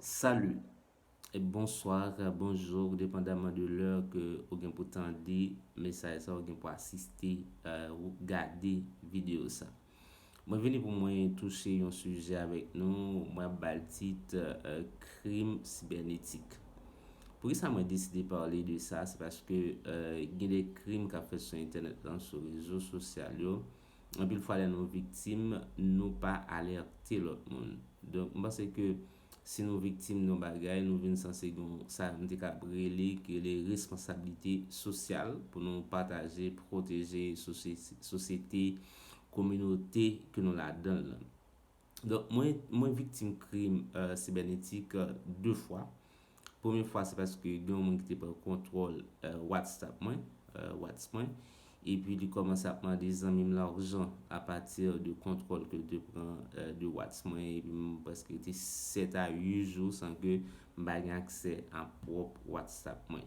Salut et bonsoir, bonjour depandamment de l'heure ke ou gen pou tande mesaj sa ou gen pou asiste ou gade video sa. Mwen vini pou mwen touche yon suje avek nou, mwen ap bal tit krim sibernetik. Pou ki sa mwen deside pale de sa, se paske gen de krim kap fèt sou entenet lan, sou rezo sosyal yo. Anpil fwa lè nou viktim, nou pa alète lòt moun. Donk, m panse ke si nou viktim yon bagay, nou vin sanse gen yon sa m te kab rele, ki rele responsablite sosyal pou nou pataje, pwoteje sosyete, kominote ke nou ladan l lan. Donk mwen mwen viktim krim sibènetik 2 fwa. Premye fwa se paske gen yon moun ki te pran kontwòl Whatsapp mwen, whats mwen, epi li kòmanse ap mande zanmi m lajan apati de kontwòl ke l te pran de whats mwen epi m prèske rete 7 a 8 jou san ke m pa gen aksè a pwòp Whatsapp mwen.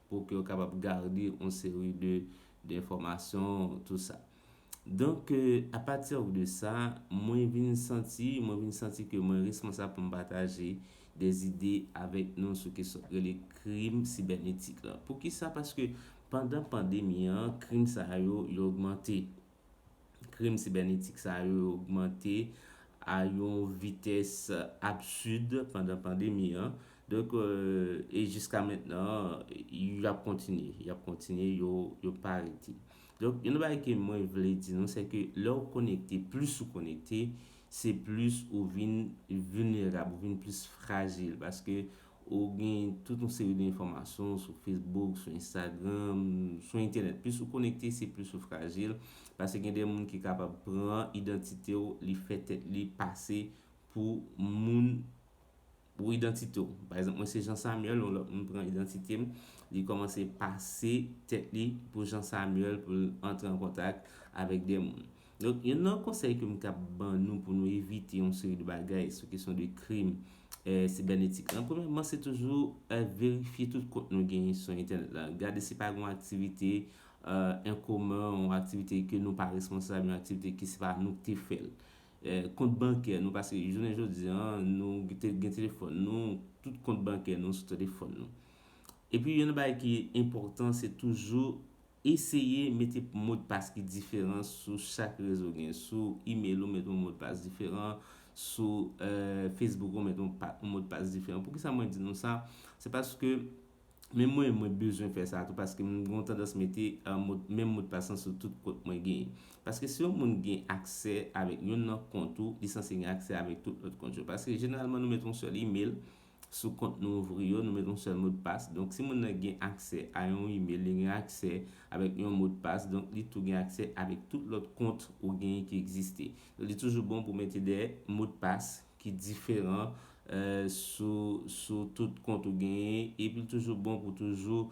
pou ke yo kapab garde yon seri de enfòmasyon tou sa. Donk a pati de sa, mwen vin santi, mwen vin santi ke mwen responsab pou m pataje de zide avèk nou sou kesyon ki rele krim sibènetik la. Poukisa? Paske pandan pandemi an, krim sa yo yo ogmante. Krim sibènetik sa yo ogmante a yon vitès absid pandan pandemi an. Donk, e jiska mentnan, y ap kontinye. Y ap kontinye, yo pa rete. Donk, yon bagay ke mwen vle di nou, se ke lè ou konekte, plis ou konekte, se plis ou vin vilnerab, ou vin plis frajil. Paske Ou gen tout yon seri de enfòmasyon sou Facebook, sou Instagram, sou entènèt. Plis ou konekte, se plis ou frajil. Pase gen de moun ki kapab pran idantite w, li fè tèt li pase pou moun pou idantite w. Pa egzanp, mwen se Jean Samuel, yon lòt moun pran idantite m, li kòmanse pase tèt li pou Jean Samuel pou l antre an kontak avèk de moun. Donk youn nan konsèy ke m kab ban nou pou nou evite yon seri de bagay sou kesyon de krim sibènetik lan, premyèman se toujou verifye tout kont nou genyen sou entènèt lan. Gade si pa gen yon aktivite enkomen, yon aktivite ke nou pa responsab, yon aktivite ke se pa nou ki te fè l. Kont bankè nou, paske jounen jodi an, nou gen telefòn nou, tout kont bankè nou sou telefòn nou. Epi youn nan bagay ki enpòtan se toujou Eseye mete modpas ki diferan sou chak rezo w gen. Sou email ou met yon modpas diferan, sou Facebook ou met yon modpas diferan. Poukisa mwen di nou sa? Se paske menm mwen mwen bezwen fè sa tou paske mwen gen yon tandans mete menm modpas lan sou tout kont mwen gen. Paske si yon moun gen aksè avèk yonn nan kont ou, li sanse gen aksè avèk tout lòt kont yo. Paske jeneralman nou met yon sèl email. sou kont nou ouvri yo, nou met yon sèl modpas. Donk si moun nan gen aksè a yon email, li gen aksè avèk yon modpas, donk li tou gen aksè avèk tout lòt kont ou genyen ki egziste. Li toujou bon pou mete de modpas ki diferan sou tout kont ou genyen, epi li toujou bon pou toujou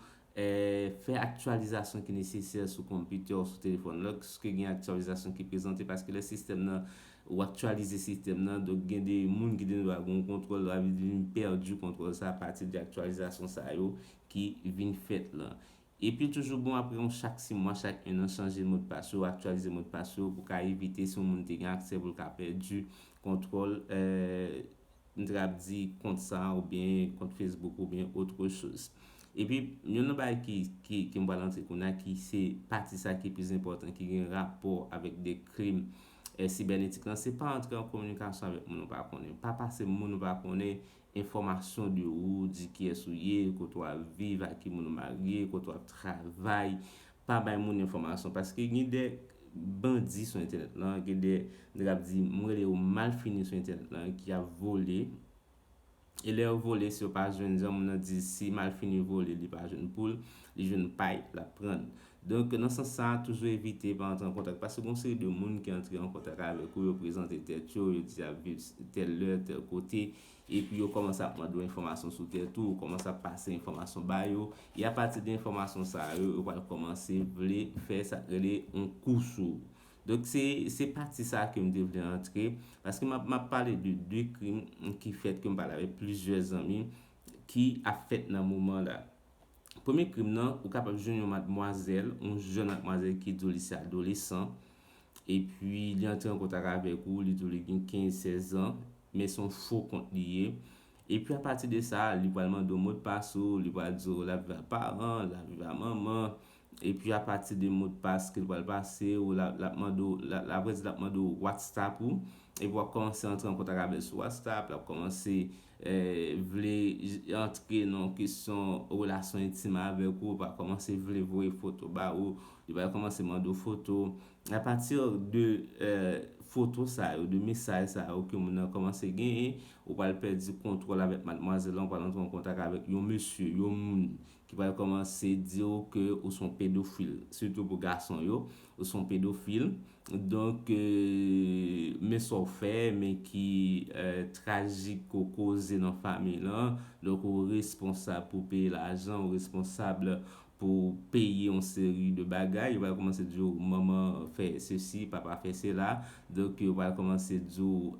Fè aktyalizasyon ki nesesè sou konpitè ou sou telefòn lòske gen aktyalizasyon ki prezante paske lè sistèm nan ou aktyalize sistèm nan donk gen de moun ki gendwa gen yon kontwòl sa vle di li pèdi kontwòl sa apati de aktyalizasyon sa yo ki vin fèt lan. Epi l toujou bon apre yon chak simwa chak ennan chanje modpas yo aktyalize modpas yo pou ka evite si yon moun te gen aksè pou l ka pèdi kontwòl M t rap di kont sa ou byen kont Facebook ou byen autre chose. Epi yon nan bagay ki ki ke m pral antre kounya ki se pati sa ki plis enpòtan ki gen rapò avèk de krim eh sibènetik lan se pa antre an kominikasyon avèk moun ou pa konnen. Pa pase moun ou pa konnen enfòmasyon de ou, di kiyès ou ye, kote w ap viv, a ki moun ou marye, kote w ap travay. pa bay moun enfòmasyon paske gen de bandi sou entènèt lan, gen de nèg ap di m rele yo malfini sou entènèt lan ki ap vole e lè yo vole si yo pa jwenn jan moun nan di si malfini vole li pa jwenn poul li jwenn pay l ap pran l donk nan sans sa toujou evite pa antre an kontak paske gon seri de moun ki antre an kontak avèk ou yo prezante tèt yo yo di y ap viv tèl lè tèl kote Epi yo kòmanse ap mande w enfòmasyon sou tèt ou, ou kòmanse ap pase enfòmasyon ba yo, e apati de enfòmasyon sa yo, yo pral kòmanse vle fè sa k rele yon kou sou ou. Donk se, se pati sa a ke m te vle antre, paske m ap, m ap pale de 2 krim ki fèt ke m pale avèk plizyè zanmi, ki ap fèt nan moman la. Premye krim nan, ou kapab jwenn yon madmwazèl, yon jèn madmwazèl ki di w li se adolesan, epi li antre an kontak avèk ou, li di w li gen 15, 16 an, Men son fo kont li ye. Epi apati de sa, li pral mande w modpas ou, li pral di w lap viv ak paran, lap viv ak manman, epi apati de modpas ke l pral pase w, lap mande w, apre di lap mande w whatstapp ou, epi wap kòmanse antre an kontak avè l sou whatstapp, lap kòmanse vle antre nan yon kesyon relasyon entim avèk ou, va kòmanse vle voye foto ba ou, li pral kòmanse mande w foto, A pati de foto sa yo, de mesaj sa yo ke moun nan kòmanse genyen, ou pral pèdi kontwòl avèk madmwazèl lan, ou pral antre an kontak avèk yon mesye, yon moun ki pral kòmanse di ou ke ou se yon pedofil. Sitou pou gason yo, ou se yon pedofil. Donk, men sa w fè, men ki trajik ke w koze nan fanmiy lan. Donk, ou responsab pou peye lajan, ou responsab. pou peye yon seri de bagay. Yo pral kòmanse di w manman fè sesi, papa fè sela. Donk yo pral kòmanse di w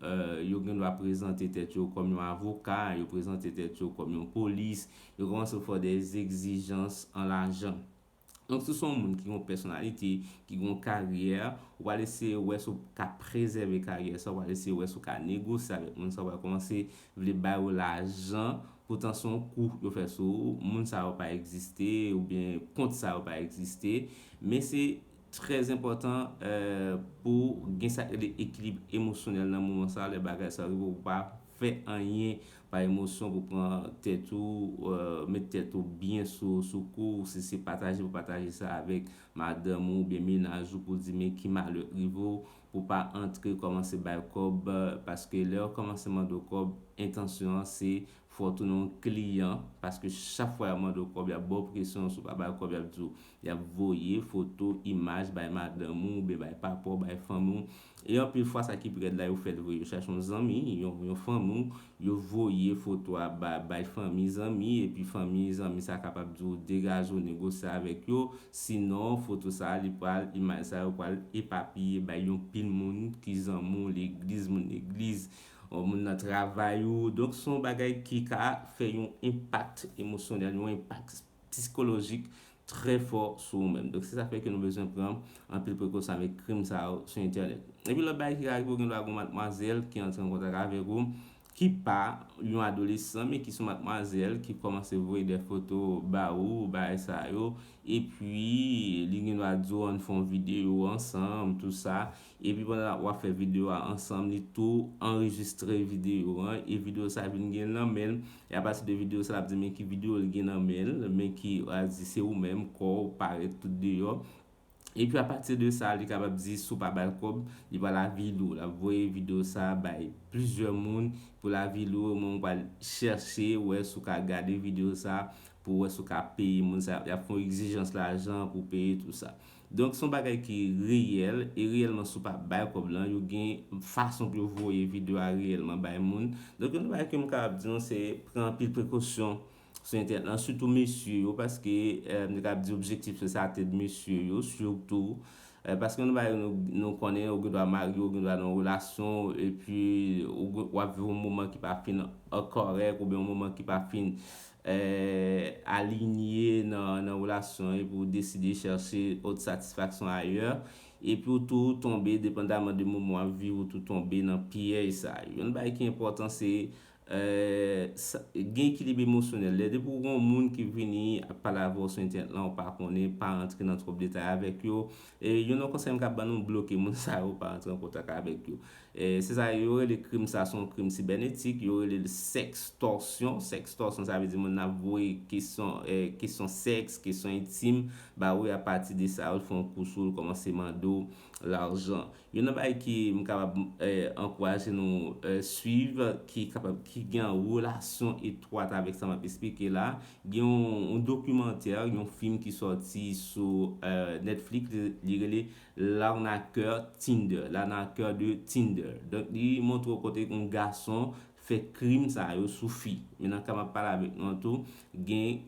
yo gen dwa prezante tèt yo kòm yon avoka, yo prezante tèt yo kòm yon polis. Yo kòmanse fè w de zegzijans an lajan. Donk si w se yon moun ki gen yon pèsonalite, ki gen yon karyè, ou pral eseye wè si w ka prezève karyè sa a. Ou pral eseye wè si w ka negosye avèk moun sa a. Ou pral kòmanse vle bay ou lajan poutan son kou yo fè sou ou, moun sa yo pa egziste oubyen kont sa yo pa egziste, men se trè enpòtan pou gen sa rele ekilib emosyonèl nan moman sa lè bagay sa yo rive pou pa fè anyen pa emosyon pou pran tèt ou met tèt ou byen sou kou si se pataje pou pataje sa avèk madanm ou oubyen mennaj ou pou di men ki malè k rive ou pou pa antre kòmanse bay kòb paske lè yo kòmanse mande w kòb entansyon an se fè w tounen yon kliyan paske chak fwa y ap mande w kòb y ap ba w presyon si w pa ba yo kòb y ap di w y ap voye foto imaj bay madanm ou oubyen bay papa w bay fanmi w e anpil fwa sa ki pi rèd la yo fè l vre yo chache yon zanmi yon fanmi w Yo voye foto a ba bay fanmi zanmi epi fanmi zanmi sa kapab di w degaje w negosye avèk yo sinon foto sa li pral imaj sa yo pral epapiye bay yon pil moun ki zanmi w legliz moun legliz w moun nan travay ou donk son bagay ki ka fè yon enpak emosyonèl yon enpak psikolojik trè fò sou ou menm. Donk se sa k fè ke nou bezwen pran anpil prekosyon avèk krim sa yo sou entènèt. Epi lòt bagay ki ka rive ou gen dwa gen yon matmwazèl ki antre an kontak avèk ou ki pa yon adolesan men ki son matmwazèl ki kòmanse voye dè foto ba ou, bagay sa yo, epi li gen dwa di ou an n fè yon videyo ansanm, tou sa, Epi pandan wap fè video a ansanm li tou anrejistre video an e video sa vin gen nan menl e apati de video sa lap di men ki video li gen nan menl men ki al di se ou menm kòw parèt tout deyò epi apati de sa li kapab di si w pa bal kòb li pral avili w lap voye video sa bay plizyè moun poul avili w ou menm ou pral chèche wè si w ka gade video sa pou wè si w ka peye moun sa yap fè w egzijans lajan pou peye tout sa. Donk son bagay ki reyèl e reyèlman si w pa bay kòb lan yo gen fason pou yo voye video a reyèlman bay moun. Donk yon bagay ke m kapab di nou se pran anpil prekosyon sou entènèt lan sitou mesye yo paske m te kapab di objektif se sa tèt mesye yo sitou paske yon bagay nou konnen ou gen dwa marye ou gen dwa nan yon relasyon epi w ap viv yon moman ki pa fin kòrèk oubyen yon moman ki pa fin alinye nan relasyon epi w deside chèche ot satisfaksyon ayè, epi w tou tonbe depandaman de moman w ap viv ou tou tonbe nan pyèj sa yo. Yon bagay ki enpòtan se gen ekilib emosyonèl. Lè depi w gen yon moun ki vini ap pale avè w sou entènèt lan ou pa konnen, pa rantre nan twòp detay avèk yo. Yon lòt konsèy m ka ban nou, bloke moun sa yo, pa rantre an kontak avèk yo. Se sa yo rele krim sa son krim sibènetik, yo rele l sèkstòsyon, sèkstòsyon sa vle di moun nan ap voye kesyon kesyon sèks, kesyon entim ba ou e apati de sa yo fè yon kou sou ou, kòmanse mande w lajan. Youn nan bagay ki m kapab ankouraje nou suiv ki kapab ki gen an relasyon etwat avèk sa m ap esplike la, gen yon dokimantè, yon fim ki sòti sou Netflix li rele L'arnaqueur Tinder, L'arnaqueur de Tinder. Donk li montre w kote yon gason fè krim sa yo sou fi. Men nan ka m ap pale avèk nou an tou, gen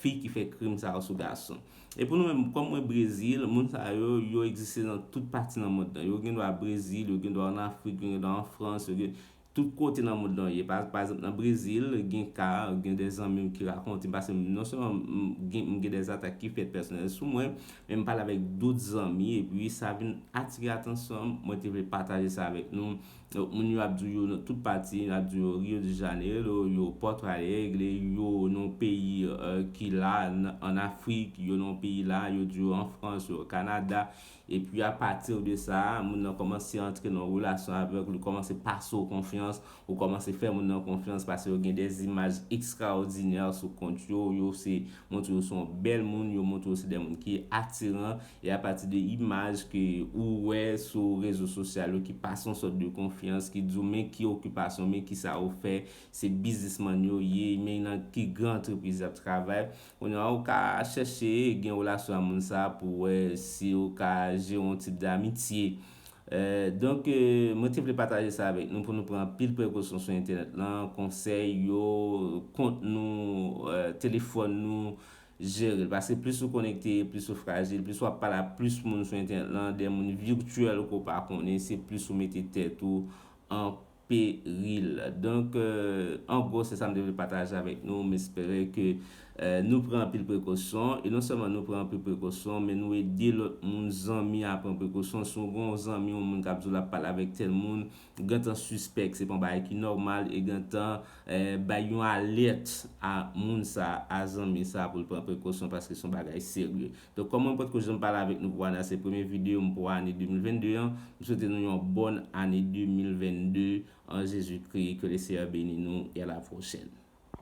fi ki fè krim sa yo sou gason. E pou nou menm, kòm mwen Brezil, moun sa yo, yo egziste nan tout pati nan mond lan. Yo gendwa Brezil, yo gendwa an Afrik, yo gendwa an Frans, yo gen. Tout kote nan mond lan ye. Pa ekzanp nan Brezil gen ka, gen de zanmi m ki rakonte m pase m non sèlman m gen m gen de atak ki fèt pèsonèl sou mwen, men m pale avèk dout zanmi epi sa vin atire atansyon m, mwen te vle pataje sa avèk nou. Donk moun yo ap di w yo nan tout pati, yo ap di w yo Rio de Janeiro, yo Porto Alegre, yo nan yon peyi ki la an Afrik, yo nan yon peyi la, yo di w yo an Frans, yo Canada. Epi a pati de sa, moun nan kòmanse antre nan yon relasyon avèk ou, li kòmanse pase w konfyans, ou kòmanse fè moun nan konfyans paske yo gen de zimaj ekstraòdinè sou kont yo, yo se montre yo se yon bèl moun, yo montre yo se de moun ki atiran, e a pati de imaj ke ou wè sou rezo sosyal yo ki pase yon sòt de konfyans, ki di w men ki okipasyon, men kisa yo fè, se biznismann yo ye, men nan ki gran antrepriz y ap travay. Kounye a ou ka chèche gen relasyon a moun sa pou wè si ou ka jere yon tip d'amitye. Donk mwen te vle pataje sa avèk nou pou nou pran anpil prekosyon sou entènèt lan, konsèy yo, kont nou, telefòn nou, jere l. Paske plis ou konekte, plis ou frajil, plis wap pale ak plis moun sou entènèt lan, de moun virtuel ke w pa konnen, se plis ou mete tèt ou an peril. Donk an gwo se sa m te vle pataje avèk nou, m espere ke nou pran anpil prekosyon e non sèlman nou pran anpil prekosyon men nou ede lòt moun zanmi a pran prekosyon, si w gen yon zanmi yon moun k ap di w l ap pale avèk tèl moun gentan sispèk se pa yon bagay ki nòmal e gentan bay yon alèt a moun sa a zanmi sa a pou l pran prekosyon paske se yon bagay serye. Donk kòm mwen pot ko janm pale avèk nou pou ane a se premye video m pou ane 2022 an, m swete nou yon bòn ane 2022 an Jezi Kri ke le Seyè beni nou e a la pwochèn.